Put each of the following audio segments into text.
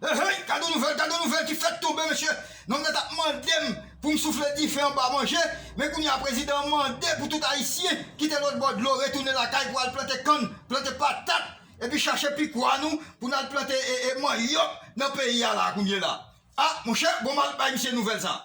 Heyy gad yon nouvèl gad yon nouvèl ki fèk tonbe mesye nonm nan tap mandem poum soufle dife anba manje men kounye a prezidan an mande pou tout ayisyen kite lòt bò dlo retounen lakay pou al plante kann plante patat epi chache pikwa nou pou nal plante manyòk nan peyi a la kounye la a monchè bon mal bay misye nouvèl sa.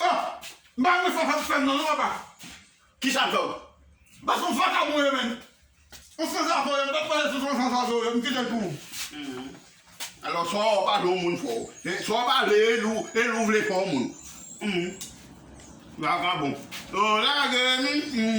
Oh! M pa renmen sa sa ap fè m nan non papa. Kisa l fè w? Bas son vakabon yo menn. Yon san zazo yo, m pat pale sou yon san zazo yo, m kite l pou ou. Humm. Alò swa w pale yon moun fò. Swa w pale e lou e lou vle fè yon moun. Humm. Vakabon. Lagem. Humm.